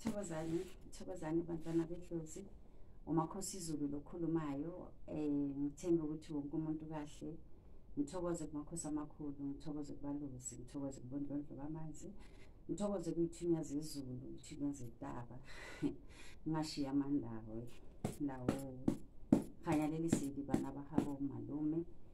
Thokozani, thokozani bantwana bedlozi. umakhosi izulu lokhulumayo um ngithembe ukuthi wonke umuntu kahle ngithokoze kumakhosi amakhulu ngithokoze kubaluzi ngithokoze kubondlondlo bamanzi ngithokoze kuyithunya zezulu ithunya zentaba ngingashiya amandawo lawo kganya le lesedi bana ba gabo malume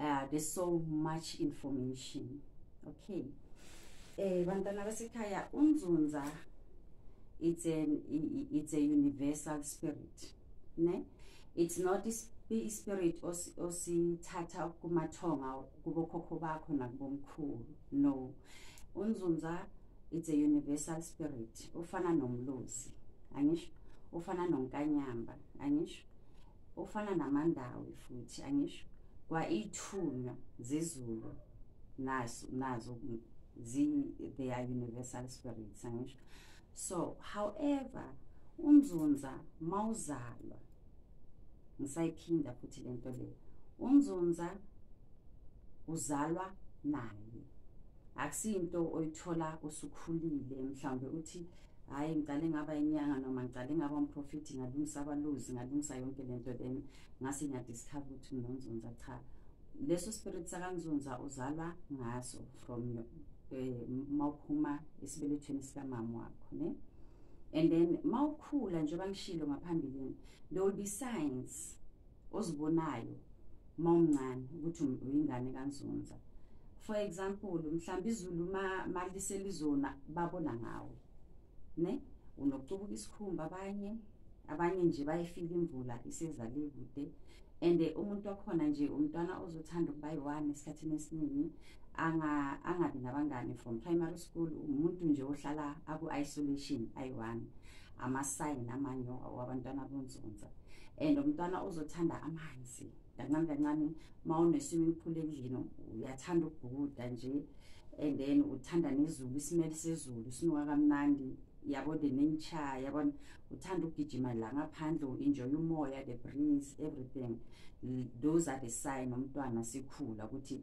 uh, there's so much information okay eh bantwana basekhaya unzunza it's an it's a universal spirit ne it's not ispirit osithatha kumathonga kubokhokho bakho nakubomkhulu no unzunza it's a universal spirit ufana nomlozi angisho ufana nonkanyamba angisho ofana namandawi futhi angisho kwaithunywa zezulu nazo nazo zi they are universal spirits angisho so however umzunza mawuzalwa ngisayiphinda futhi lento le umzunza uzalwa naye akusinto oyithola usukhulile mhlawumbe uthi hhayi ngicale ngaba inyanga noma ngicale ngaba umprofiti ngalungisa abaluzi ngalungisa yonke le nto then ngase ngiyadiscover ukuthi nginonzunza cha leso spirit sakanzunza uzalwa ngaso from um eh, ma uphuma esibelethweni sikamama wakho ne and then ma ukhula njengoba ngishilo ngaphambilini there will be signs ozibonayo uma umncane ukuthi uyingane kanzunza for example mhlawumbe izulu uma liselizona babona ngawe ne unokucubuka isikhumba abanye abanye nje bayifile imvula isezale kude and umuntu wakhona nje umntwana ozothanda ukuba yi-one esikhathini esiningi angabi nabangani from primary school umuntu nje ohlala aku-isolation ayi-one amasayini amanyoka wabantwana bonzunza and umntwana uzothanda amanzi kancane kancane uma une-swimming pool endlini uyathanda ukubhukuda nje and then uthanda nezulu isimele sezulu sinuka kamnandi yabo the nature yabona uthanda ukugijima la ngaphandle u-enjoy umoya the breeze everything those are the sign umntwana sikhula ukuthi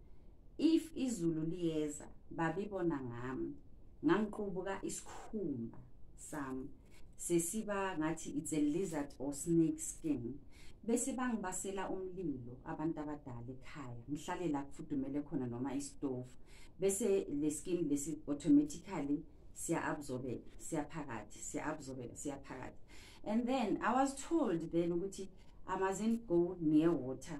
if izulu liyeza babibona ngami ngangiqubuka isikhumba sami sesiba ngathi it's a lizard or snake skin bese bangibasela umlilo abantu abadala ekhaya ngihlale la kufudumele khona noma isitofu bese le skin lesi automatically siya-absorbeka siyaphakathi siya-absorbeka siyaphakathi and then i was told then ukuthi i mustn't go near water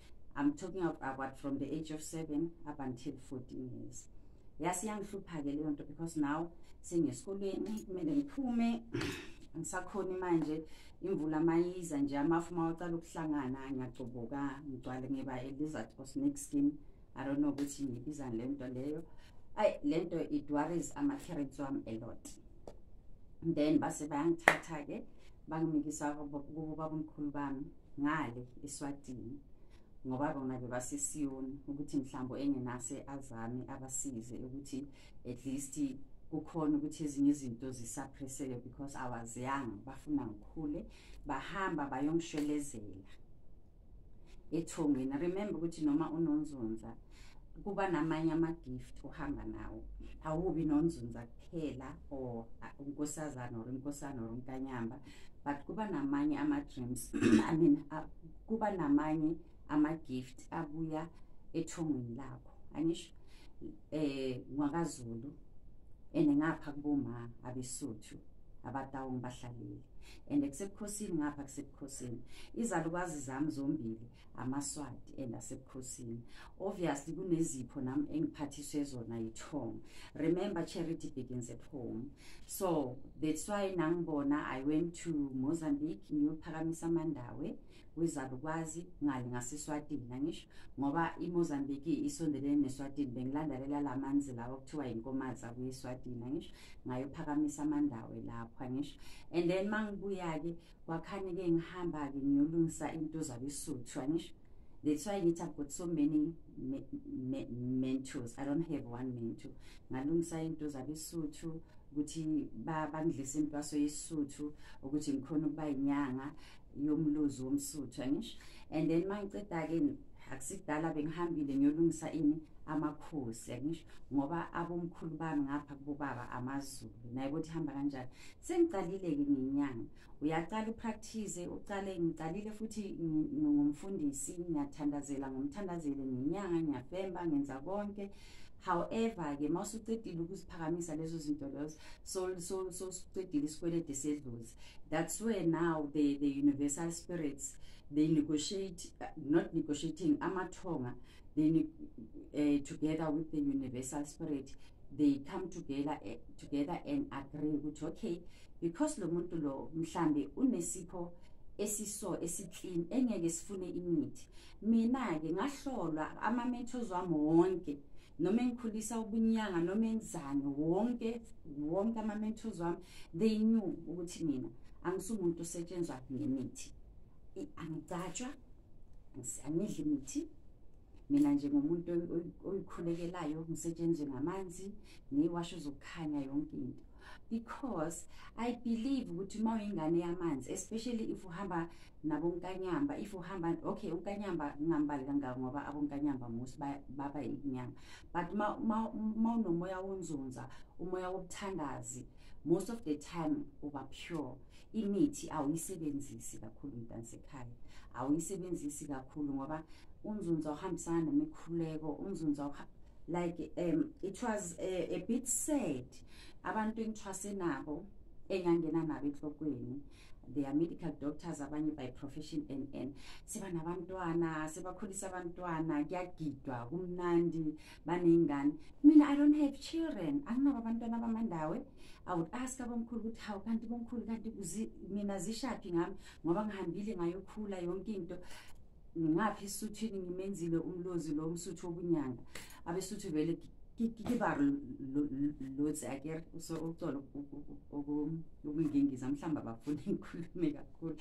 I'm talking of about from the age of 7 up until 14 years yasi yangihlupha ke leyo nto because now sengesikoleni kumele ngiphume ngisakhona manje imvula mayiza nje amafu mawacala ukuhlangana ngiyagcoboka ngigcwale ngiba a lizard or snake skin i don't know ukuthi ngibizani le nto leyo ayi le nto it worries ama-parents wami a lot then base bayangithatha-ke bangimikisa kubo babomkhulu bami ngale eSwatini ngoba bona bebasesiyoni ukuthi mhlawumbe engenase azame abasize ukuthi at least kukhona ukuthi ezinye izinto zisaphresseke because i was young bafuna ngikhule bahamba bayongishwelezela ethongweni remember ukuthi noma unonzunza kuba namanye ama-gift uhamba nawo awubi nonzunza kuphela or unkosazana or inkosana or unkanyamba but kuba namanye ama-dreams i mean uh, kuba namanye ama-gift abuya ethongweni lakho angisho eh ngwakazulu and ngapha kuboma abesuthu abatawu ngibahlalile and kusebukhosini ngapha kusebukhosini izalukazi zami zombili amaswati and asebukhosini obviously kunezipho nami engiphathiswe zona yithongo remember charity begins at home so that's why nangibona i went to mozambique ngiyophakamisa amandawe kwizalukwazi ngale ngaseswatini angisho ngoba imozambique isondelene neswatini bengilandalela la manzi lawa kuthiwa yinkomaza kuyeswatini angisho ngayophakamisa amandawe lapho angisho and then mangibuya-ke wakhani ke ngihamba ke ngiyolungisa into zabesuthu anisho that's why ngithi i've got so many me, me, mentors i don't have one mentor ngalungisa into zabesuthu ukuthi bangidlise intwaso yesuthu ukuthi ngikhona ukuba inyanga yomluzi womsuthu angisho and then mangiceda ke akusibdala bengihambile ngiyolungisa ini amakhosi yakungisho ngoba abomkhulu bami ngapha kubobaba amazulu naye ukuthi hamba kanjani sengiqalile-ke ngenyanga uyaqala upractice uqale ngiqalile futhi ngumfundisi ngiyathandazela ngomthandazele ngenyanga ngiyafemba ngenza konke however-ke uma usucedile ukuziphakamisa lezo zinto lezo sosucedile isikwelede sedlozi that's where now the, the universal spirits they negotiate uh, not negotiating amathonga they uh, together with the universal spirit they come together uh, together and agree ukuthi okay because lo muntu lo mhlambe unesipho esiso esiclean engeke sifune imithi mina ke ngahlolwa ama methods wami wonke noma engikhulisa ubunyanga noma enzani wonke wonke ama mentors wami they knew ukuthi mina angisumuntu osetshenzwa ngemithi angigcatshwa angidli mithi mina nje ngomuntu oyikhulekelayo ngisetshenzwe ngamanzi ngiwasho zokukhanya yonke into because i believe ukuthi uma uyingane yamanzi especially if uhamba nabonkanyamba if uhamba okay unkanyamba ngingambali kangako ngoba abonkanyamba most baba inyanga but uma unomoya wonzunza umoya wobuthandazi most of the time uba pure imithi awuyisebenzisi kakhulu mntansekhaya awuyisebenzisi kakhulu ngoba unzunza uhambisana nemikhuleko unzunza like um it was a, a bit sad abantu engithwase nabo engangena nabo enhlokweni they are medical doctors abanye by profession and and siba nabantwana sibakhulisa abantwana kuyagidwa kumnandi baney'ngane mina i don't have children anginabo abantwana abamandawe i would ask abomkhulu ukuthi hawu kanti bomkhulu kanti mina zishaphi ngami ngoba ngihambile ngayokhula yonke into ngaphi esuthwini ngimenzile umlozi lo msuthu wobunyanga abesuthu vele kiba lotsi ake ucolo ukungingiza mhlawumbe abafuni ngikhulume kakhulu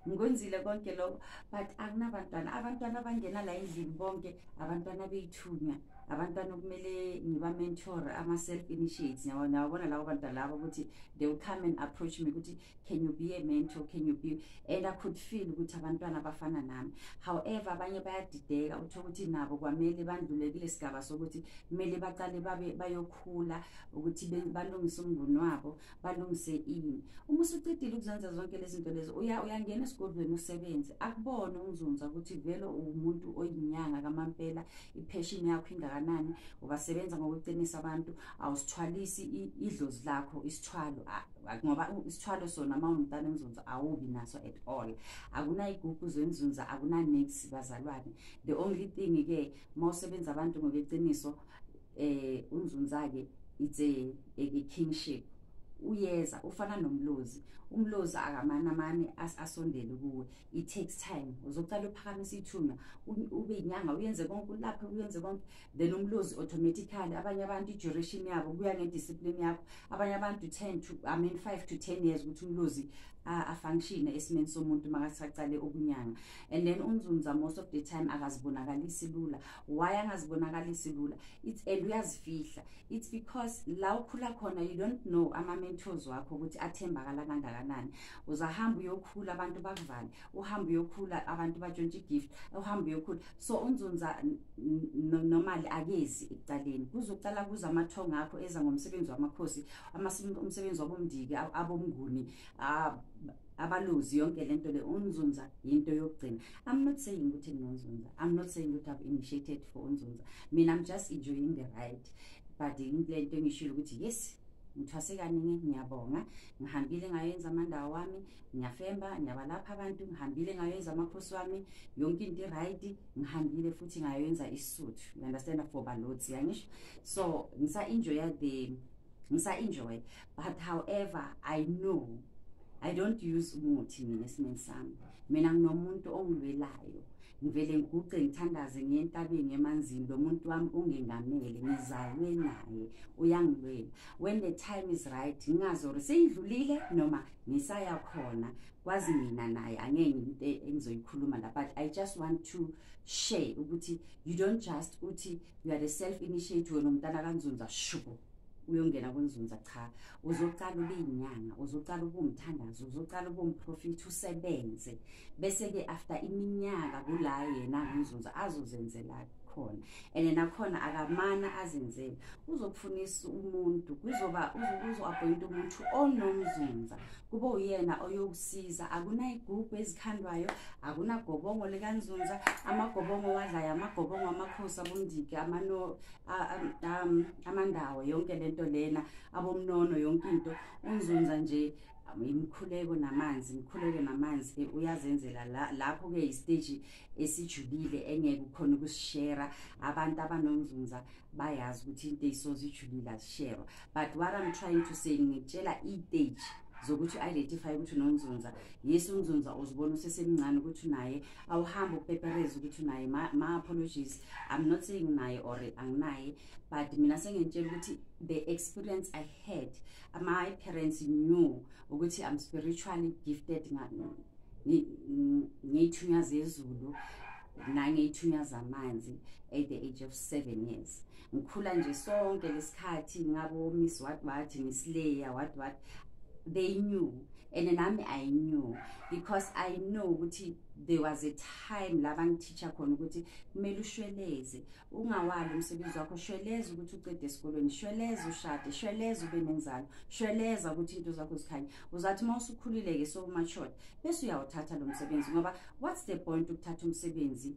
ngikwenzile konke lokho but akunabantwana abantwana abangena la endlini bonke abantwana bethu ukuthunywa abantwana okumele ngiba-mentor ama-self initiates nawabona labo bantwana labo ukuthi they will come and approach me ukuthi can you be a mentor can you be and i could feel ukuthi abantwana bafana nami however abanye bayadideka uthola ukuthi nabo kwamele bandlule kule sigaba sokuthi kumele baqale babe bayokhula ukuthi balungise umnguni wabo balungise ini uma usucedile ukuzenza zonke lezi zinto lezi uya uyangena esigodlweni usebenze akubone umzunza ukuthi vele uwumuntu oyinyanga kamampela ipheshini yakho ingakanani ubasebenza ngokuqinisa abantu awusithwalisi idlozi lakho isithwalo ngoba isithwalo sona uma ungumntana emzunza awubi naso at all akunayigugu zenzunza akunanix bazalwane the only thing-ke uma usebenza abantu ngokweqiniso eh unzunzake it's a, a, a kingship uyeza ufana nomlozi umlozi akamana mani asondele kuwe it takes time uzocala uphakamisa ithuna ube inyanga uyenze konke ulaphe uyenze konke then umlozi automatically abanye abantu i-duration yabo kuya ngediscipline yakho abanye abantu 10 to i mean 5 to 10 years ukuthi umlozi afunctione esimeni somuntu makasacale ukunyanga and then unzunza most of the time akazibonakalisi lula why angazibonakalisi lula it's and uyazifihla it's because la ukhula khona you don't know ama-mentors wakho ukuthi athembakala kangakanani uzahamba uyokhula abantu bakuvale uhamba uyokhula abantu batshontshe igift uhamba uyokhula so unzunza nomali akezi ekucaleni kuzoqala kuza amathongo akho eza ngomsebenzi wamakhosi umsebenzi wabomndiki abomnguni abaluzi yonke lento le unzunza yinto yokugcina i'm not saying ukuthi nginonzunza i'm not saying ukuthi i've initiated for unzunza mina i'm just enjoying the ride but into lento engishilo ukuthi yes ngithwase kaningi ngiyabonga ngihambile ngayenza amandawo wami ngiyafemba ngiyabalapha abantu ngihambile ngayenza amakhosi wami yonke into i-right ngihambile futhi ngayenza isisuthu you understand for balotsi yangisho so ngisa-enjoya the ngisa-enjoya but however i know i don't use umuthi mina esimeni sami mina nginomuntu ongilwelayo ngivele ngiguqe ngithandaze ngentabeni emanzini lo muntu wami ungengamele ngizalwe naye uyangilwela when the time is right ngingazi or seyidlulile noma ngisaya khona kwazi mina naye angeke into engizoyikhuluma la but i just want to share ukuthi you don't just uthi you are a self initiate wena umntana kanzunza shubo uyongena kunzunza cha uzoqala ube inyanga uzoqala ube umthandazo uzoqala ube umprofethi usebenze bese-ke after iminyaka kula yena kunzunza azozenzela khona and nakhona akamana azenzele uzokufunisa umuntu kuzoba uzoappointa umuntu onomzunza kube uyena oyokusiza akunayigubhu ezikhandwayo akunagobongo likanzunza amagobongo wadlayo amagobongo amakhosi abundiki um amandawo yonke lento lena abomnono yonke into umzunza nje imikhuleko namanzi imikhuleko namanzi ke uyazenzela lapho ke istage esijulile engeke ukhona ukusishare abantu abanomzunza bayazi ukuthi into eyisoze ijulile azisherwa but what i'm trying to say ngitshela iteji zokuthi u-identify ukuthi unonzunza yes unzunza uzibona usesemncane ukuthi unaye awuhambe upepereze ukuthi unaye ma-apologies i'm not saying naye or anginaye but mina sengentshela ukuthi the experience i had my parents knew ukuthi i'm spiritually gifted ngiyithunya zezulu nangiyithunya zamanzi at the age of seven years ngikhula nje sonke lesikhathi ngabo miss what what miss leya what what they knew and nami i knew because i know ukuthi there was a time la bangithicha khona ukuthi kumele ushweleze ungawali umsebenzi wakho shweleza ukuthi ucede esikolweni shweleza ushade shweleza ube nenzalo shweleza ukuthi into zakho zikhanye uzathi uma usukhulile-ke so matured bese uyawuthatha lo msebenzi ngoba what's the point ukuthatha umsebenzi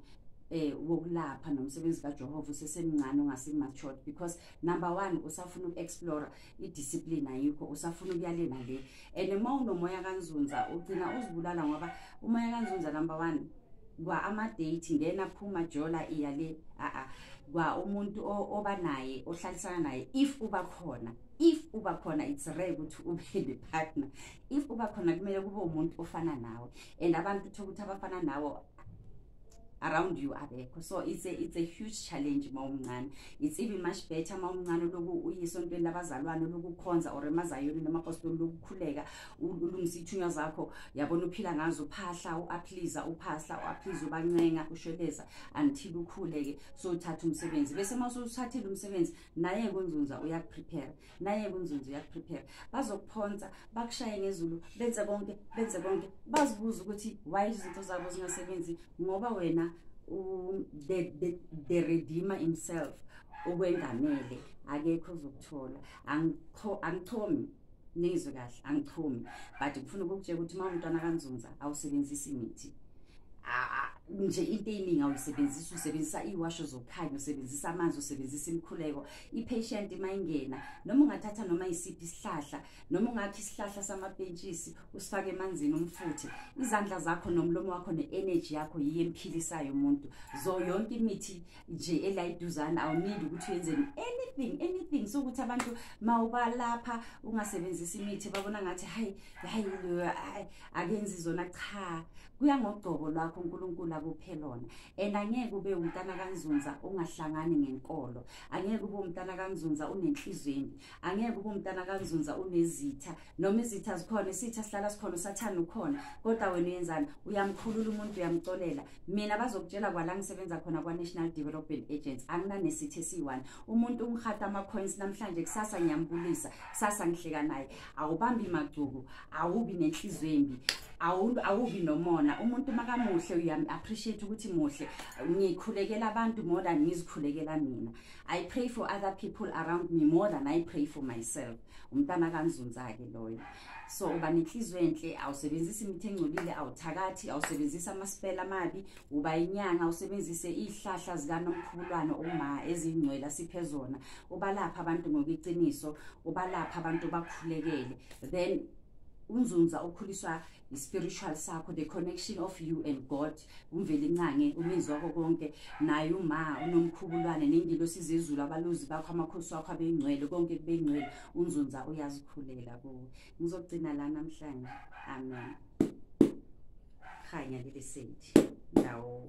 eh wokulapha nomsebenzi kaJehova usesemncane ungasimatured because number 1 usafuna ukuexplore idiscipline ayikho usafuna ukuyalena le and uma unomoya kanzunza ugcina uzibulala ngoba umoya kanzunza number 1 kwa amadate then aphuma jola iya le a kwa umuntu oba naye ohlalisana naye if uba khona if uba khona it's rare ukuthi ube ne partner if uba khona kumele kube umuntu ofana nawe and abantu uthola ukuthi abafana nawo around you abekho so it's a, it's a huge challenge uma umncane it's even much better uma umncane loku uyisontweni labazalwane lokukhonza or emazayoni namapostoli lokukhuleka ulungisa ithunywa zakho yabona uphila ngazo uphahla uaphliza uphahla uaphliza ubancenga ushweleza until ukhuleke so uthatha umsebenzi bese uma usuthathile umsebenzi naye kunzunza uyakuprepare naye kunzunzu uyakuprepare bazokuphonsa bakushaye ngezulu benze konke benze konke bazibuze ukuthi why izinto zabo zingasebenzi ngoba wena um, the, the, the redeemer himself okwengamele akekho uzokuthola angichomi nizwe kahle angichomi but ngifuna ukukutshela ukuthi uma umntwana kanzunza awusebenzisi imithi nje into eyiningi awuyisebenzisa usebenzisa iwasho zokukhanya usebenzisa amanzi usebenzisa imikhuleko i-patient mayingena noma ungathatha noma isiphi isihlahla noma ungakha isihlahla samapentshisi usifake emanzini umfuthe izandla zakho nomlomo wakho ne-energy yakho yiyo emphilisayo umuntu zo yonke imithi nje elayiduzane awunindi ukuthi uyenzeni anything anything sokuthi abantu ma ubalapha ungasebenzisi imithi babona ngathi hayi hayi akenzi zona cha kuya ngogcobo lwakho uNkulunkulu akuphe lona and angeke ube umntana kanzunza ungahlangani ngenkolo angeke ube umntana kanzunza unenhliziyo embi angeke ube umntana kanzunza unezitha noma izitha zikhona isitha sihlala sikhona usathane ukhona kodwa wena uyenzani uyamkhulula umuntu uyamcolela mina bazokutshela kwala ngisebenza khona kwa-national development agents anginanesithi esiyi-one umuntu ungihatha ama-coins namhlanje kusasa ngiyambulisa kusasa ngihleka naye awubambi magcuku awubi nenhliziyo embi awubi nomona umuntu makamuhle uyamu-appreciate ukuthi muhle ngikhulekela abantu more than ngizikhulekela mina i pray for other people around me more than i pray for myself umntana kanzunza-ke loyo so uba nenhliziyo enhle awusebenzisi imithi engcolile awuthakathi awusebenzisi amasipela amabi uba inyanga usebenzise izihlahla zikanomkhubulwane uma ezingcwele asiphe zona ubalapha abantu ngokwiqiniso ubalapha abantu bakhulekele then unzunza ukhuliswa i-spiritual sakho the connection of you and god umveli ncange umenzi wakho konke naye uma unomkhubulwane nengilo sizezulu abaluzi bakho amakhosi wakho abengcwele konke kubengcwele unzunza uyazikhulela kuwe ngizogcina la namhlanje amen khanya leli senti ndawo